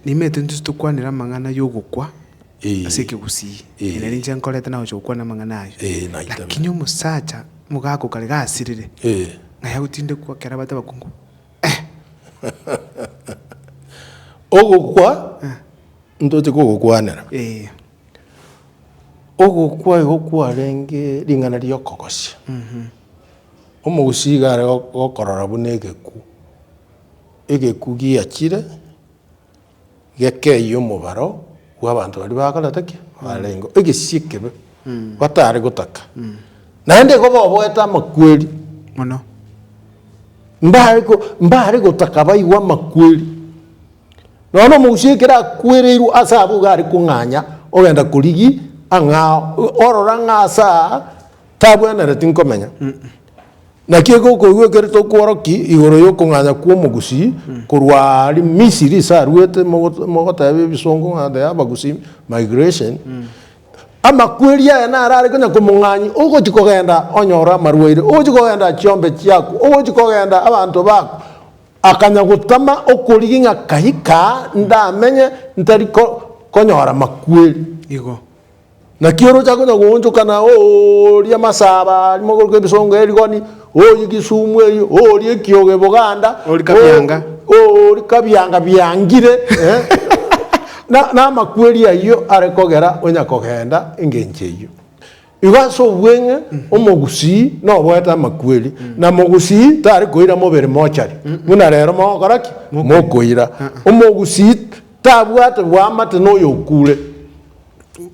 Nimanyete intwe titokwanera amang'ana y'ogokwa Eh. ase ekegusii, Eh. ere nere inche nkorete nagocha gokwana amang'ana ayio. Eh, naiteme. Lakini omosacha omogaka o kare gasirire, Eh. ng'a yagotindekwa ekero abate abakungu, Ogokwa ntoche kogokwanera. eh, Ogokwa igo kwarenge ring'ana riokogosia. Omogusii iga are go- gokorora buna egekuu. Egekuu giachire gekeyia omobaro bw'abanto baria bakorete ki? Barengeo. Egesio ekebe batare gotaka. Naende igo boboete amakweri. Mono. Mbare ko, mbare gotaka baigwe amakweri. Nonya na omogusii ekero akwereirwe ase abwo iga are kong'anya ogenda korigi ang'ao. Orora ng'a ase aa tabwenereti nkomenya. Naki eke okoigwekerete okworoki igoro y'okong'anya kw'omogusii korwa aria Misiri ase aruete mogo- mogoteeba ebisongo ng'a they have agusii migration, amakweri aya naro are konya komong'anyia ogochi kogenda onyore amarwaire, ogochi kogenda chiombe chiaku, ogochi kogenda abanto bako, akanya gotama okorigi ng'a kai kaa ndamenye ntari ko- konyora makweri. Igo. Naki orochake onye goonchokana ooria masaba aria mogorokwa ebisongo erigoni, oorie gisumu eyio, oorie ekiogo eboganda, Oorie kabianga. oo- oorie kabianga biangire, eh, na- namakweri ayio are kogera onya kogenda engencho eyio. Igo ase obweng'e omogusii noboete amakweri, na mogusii tari koira mobere mochari, buna rero mogokora ki? Mokoira. Omogusii tabwate bwamate noyo okure.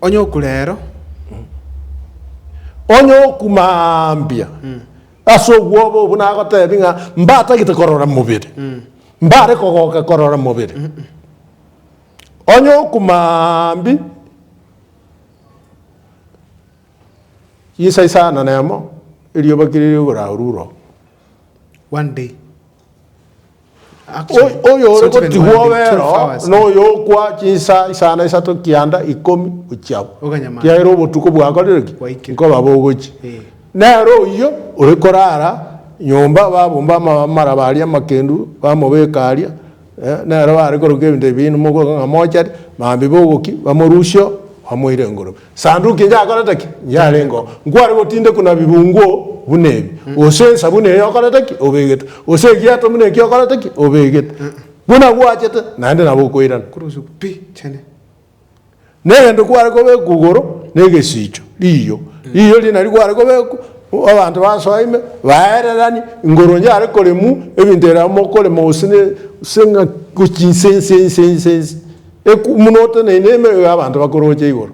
Onye oku rero. Onye oku mambia. Ase obwoba obo nagotebi ng'a mbatagete korora mobere. Mbare kogoka korora mobere. Onye oku mambi. Isa isano nemo, erioba kere rigoraurure oo. One day. Action. O- oyo ore Sometimes when gotigwa they obero took flowers, noyo okwa chinsa isano isato kianda ikomi gochiagwa Oganyamara. kiagera obotuko bwakorire ki Bwaikire. nkoba bogochi Eh. nere oyio ore korara nyomba babomba ama- amaraba aria amakendu bamobeka aria Nere baare koroka ebinto ebi binde mogoika ng'a mochari, mambi bogoki, bamorusia oo, bamoire engorobi. Esanduki inyakorete ki? Inyarenge oo. Nkware gotindekwa na bibungo buna ebi, gose ensabuni eye okorete ki? Obegete, gose egeato buna eki okorete ki? Obegete. Buna gwachete, naende nabo okoirana. Korosio pi chene. Negento kware kobekwa igoro negesicho, riiyo, riiyo riria nario kware kobekwa, abanto basoa ime, baererani, igoro yare koremwa, ebinto bire amo mokorema gose ne gose ng'a gochia inse inse inse inse inse, ekw buna oteneine ime iga abanto bakoroche igoro.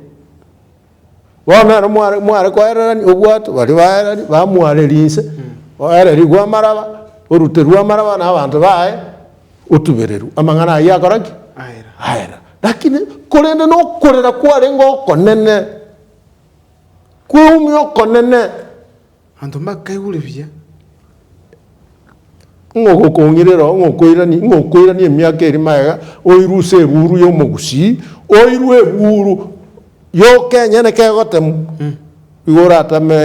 Bono ekero mware mware koererania obwato, baria baerari bamwareria inse, oererigwe amaraba, oruterwe amaraba na abanto baye, otubererwe, amang'ana ayio akora ki? Aera. Aera. Rakini korende na okorera kwarenge okonene, kweumia okonene. Abanto mbakaigure buya. Ng'a ogokong'irera, ng'a okoirania, ng'a okoirania emiaka eri magega, oirwe ase ebuuru y'omogusii, oirwe ebuuru yoka enyene kegotemwa, igo oratame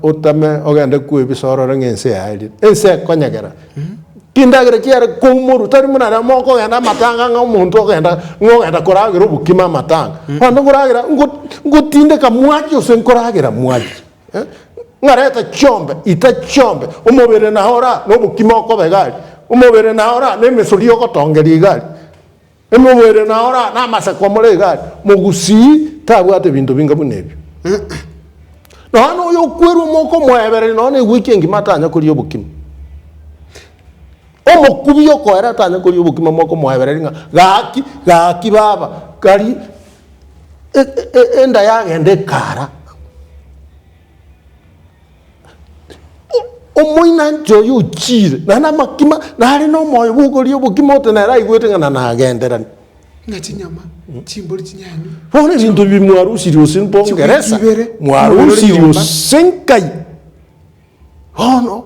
otame ogende kwebisa orore ng'a ense yaerire. Ense ekonyegera. Chindagera chiare koumorwa, tari buna remo okogenda amatanga ng'a omonto ogenda ng'a ogenda koragera obokima amatanga. Abanto nkoragera ngo ngotindeka mwachie gose nkoragera mwachie. eh, ng'arete chiombe ita chiombe omobere na ora nobokima okobe gari omobere na ora nemesori ogotongeria igari emobere na ora namaseko omore igari mogusii tabwate ebinto binga buna ebio nonya na oyo okwerwa omwoko omoebereri nonya na egweki engima atanya koria obokima omokubi okoera atanya koria obokima mwoko omoebereri ng'a gaki gaki baba gari enda yagenda ekara omoinanche oyo ochire nare namakima nare nomoyo bwokoria obokima ote nere aigwete ng'a na nagenderani ng'a chinyama chimbori chinyanywe bono ebinto ebi mwarusiri gose mpongeresa mwarusiri gose nkai. Bono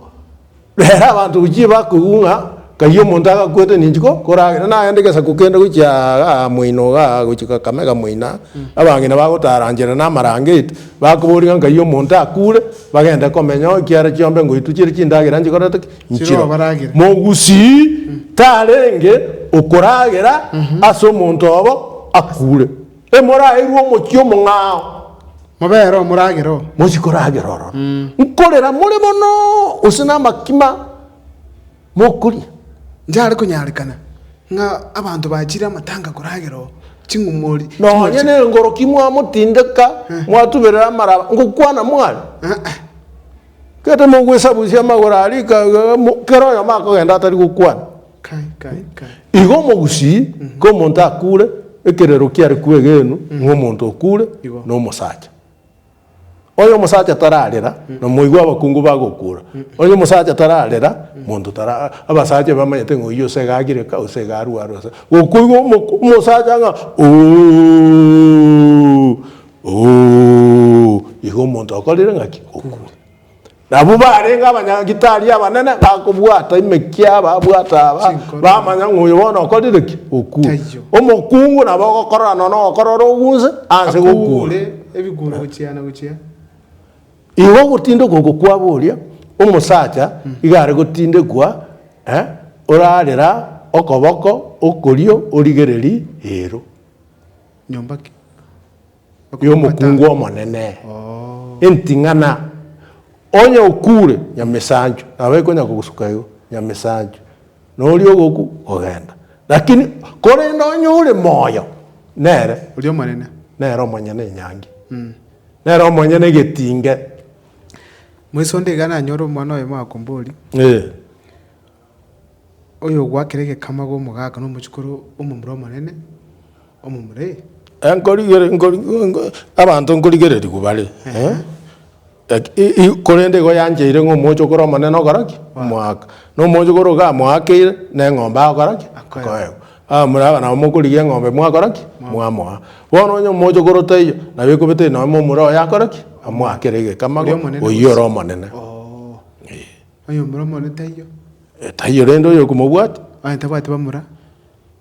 rera abanto gochia bakoigwa ng'a kaiyo omonto agakwete ninki ko- koragera, nagende gesaku kende gochia aa moino iga aa gochia Kakamega moino aa, abang'ina bagotara nchera na amarangeti, bakoboria ng'a nkaiyo omonto akure, bagende komenya oo ekiara chiombe ngoitwe chire chindagera nchikorete ki? Nchiroo. Chirobaragere. Mogusii tarenge okoragera ase omonto obo akure. Emoraerwe omochie omong'ao. Mobere omoragera oo. Mochi koragera ororo. Nkorera more mono, gose namakima mokoria. Nchare konyarekana ng'a abanto bachire amatanga koragera oo, ching'umori. Nonya nengoroki mwamotindeka, mwatuberera amara, ngokwana mware? Aa. Gete mogwesabusia amagoro aria ika iga iga, kera oyomo akogenda atari gokwana. Kai, kai, kai. Igo omogusii komonto akure, ekerero kiare kwegenu ng'a omonto okure Igo. nomosacha. Onye omosacha tararera, namoigwe abakungu bagokura. Onye omosacha tararera, monto tara abasacha bamanyete ng'a oyio ose iga agire ka, ose iga arware ose. Gokoigwa omo omosacha ng'a ooh, ooh, igo omonto okorire ng'aki? Okure. Nabwo barenge abanyagitari abanene bakobwata emekia babwata aba Chinkoro. bamanya ng'a oyo bono okorire ki okure Taiyo. omokungu nabo ogokorora nono ogokorora ogunse anse gokura Akuure ebiguru gochia na gochia. Igo ogotindekwa oko kwabo oria omosacha iga are gotindekwa eh, orarera okoboko okorio origereri eero. Nyomba ki? y'omokungu omonene, enting'ana, onye okuure, nyamesanchu, nabo ekonya kogosuka igo, nyamesanchu, na oria ogoku, kogenda. Lakini korende onye ore moyo, nere, Oria omonene. nere omonyene enyangi, nere omonyene egetinge. Moisonde iga nanyore omwana oyomo akombori. Ee. Oyogwakera egekama agwo omogaka nomochikoro omomura omonene omomura. Abanto nkorigererigwa bare, korende igo yancheire ng'a omochokoro omonene ogokora ki? Omoaka. Na omochokoro iga amoakeire, na eng'ombe agokora ki? Akoegwa. Abamura aba nabo mokorigia eng'ombe mwakora ki? Mwamoa. Bono onye omochokoro taiyo, nabo ekobete nonye momura oye akore ki? Amoakere egekama oyio ore omonene. Oyomura omone taiyo. Eh, taiyo rende oyokomobwati. Onye tabwati bamura.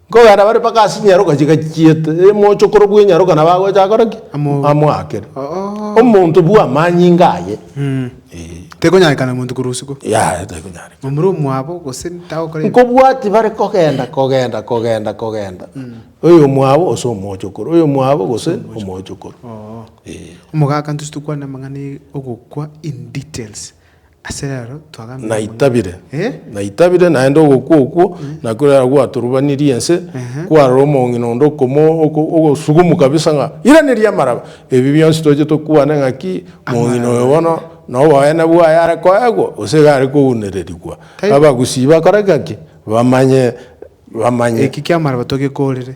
Nkogenda bare mpaka ase nyaroka chigachiete, emochokoro bwe nyaroka nabo agocha akore ki? Amobe. Amoakere. Oh. Omonto bwa amanyinga aye. Mm. Eh. Tekonyarekana omonto korwa usiku. Yaya, tekonyarekana. Omura omwabo gose tagokora ebi. Nkobwati bare kogenda, kogenda, kogenda, kogenda. Oyomwabo gose omochokoro, oyomwabo gose omochokoro. Oh. Eh. Omogaka ntose tokwane amang'ana e ogokwa in details. Ase rero twagamire mono. Naitabire, naitabire, naende ogokwa okwo nakio rero gwatorubanirie ense, kwarora omong'ina onde okomo ogosugumu kabisa ng'a iraneria amaraba. Ebi bionsi tochete kwane ng'a ki? Mong'ina oyo bono noboene bwaye are koegwa gose iga are kounererigwa? Abagusii bakore gaki? Bamanye, bamanye. Eki ki'amaraba togekorire.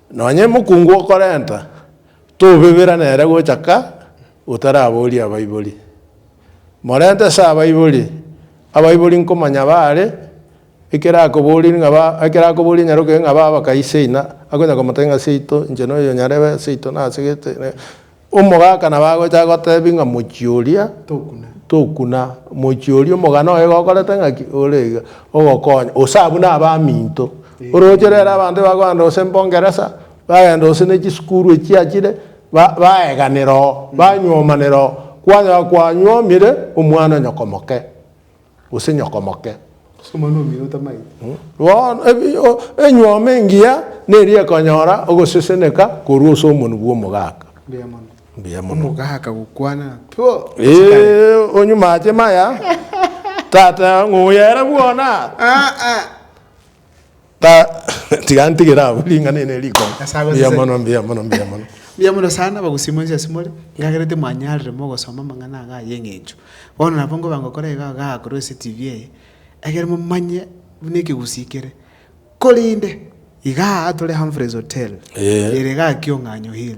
Nonye mokungu okorenta, tobebera nere gocha ka otaraboria abaibori. Morente ase abaibori, abaibori nkomanya baare, ekero akoborie ng'a ba, ekero akoborie nyaroke ng'a baba kai seina, akonya komotebia ng'a seito, inche noyo nyarebe seito nasegete, Omogaka nabagocha gotebia ng'a mochie oria tokuna, mochie oria omogana oye gokorete ng'aki? Ore iga ogokonya, gose abwo nabaminto. Oroche rero abanto ebakogenda gose mbongeresa, bagenda gose ne chisukuru echi chiachire, ba- baeganera oo, banywomanera oo, kwanyora kwanyuomire omwana nyoko moke. gose nyokomoke. Ase omwana omino otamaete. Bono ebi o, enyuoma engiya neria ekonyora ogoseseneka korwa ase omonwa bw'omogaka. Mbuya mono. Mbuya mono. Omogaka gokwana, Pwo! Ase kare. Ee, onyumache maya. Tata, ng'oya ere bwona. Aa. Ta tiga ntigere abwo ring'ana eri ne riko. Ase abwo Mbuya sese- mono, mbuya mono, mbuya mono. Mbuya mono sana abagusima inse ase more, ekagera timwanyarire mogosoma amang'ana aga ay'eng'encho. Bono nabo nkoba ngokora iga igaa korwa ase TV eye, ekere momanye buna ekegusii kere. Korende, igaa tore Humphreys Hotel, Ee. ere igaa Kiong'anyo Hill.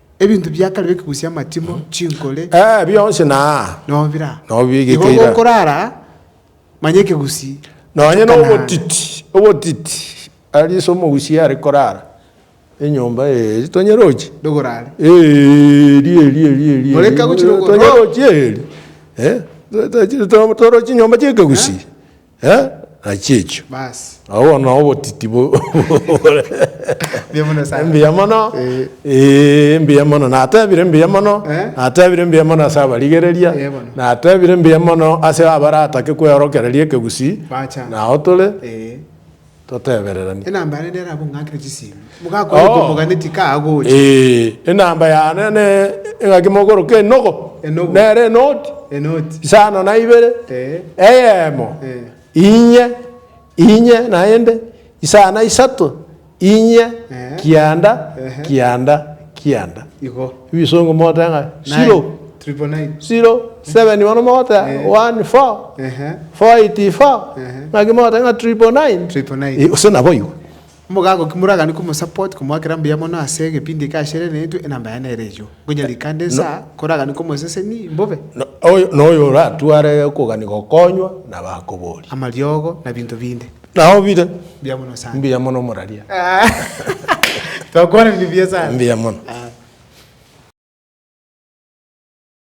Ebinto bia kare bikegusii amatimo, chinkore, Eh, bionsi na nobira. Nobigeke Igo ira. gokorara aa, manya ekegusii. Nonye na Kanani. obotiti obotiti ari ase omogusia are korara enyomba eye tonyerochi Ndogorare. Eeri eeri eeri eeri eeri More kagochire okoro- tonyerochi eeri Eh, to- to- to- torochi nyomba chiekegusii Eh, nachi echio. Bas. Agwo na obotiti bo- bore. Mbuya mono sana. Mbuya mono. Eh. Eh, mbuya mono. Natebire mbuya mono. Eh. Natebire mbuya mono ase abarigereria. Eh, bono. Natebire mbuya mono ase abaratake kweorokereria ekegusii. Bacha. Nao tore. Eh. Totebererania. Enamba yane nere abwo ng'aki ne chisiimi. Mogakora oko moganeti ka agocha. Ee, enamba yane ne eng'aki mogoroka enogo. Enogo. Nere enoti. Enoti. Isano na ibere. Ee. Eyemo. Ee. Inye. Inye naende. Isano na isato. Inye. Ee. Kianda. Ehe. Kianda. Kianda. Igo. Ebisongo mogotenga, Naye. Zero. Triple nine. zero, seven bono mogoteba Eh. one, four, Ehe. four eighty four, Ehe. naki mogoteba ng'a triple nine. Triple nine. Eh, gose naboigo. Mogago ki moragani komosupport komoakera mbuya mono ase egepindi eke ashere naintwe enamba yaye nere eyio. Ngonya rikande nsa koragani komoseseni mbobe No- oyo- na oyo oratware okogania gokonywa, nabo akobori. amariogo na binto binde. Nao bire. Mbuya mono sana. Mbuya mono moraria. Twakwanire mbuya sana. Mbuya mono.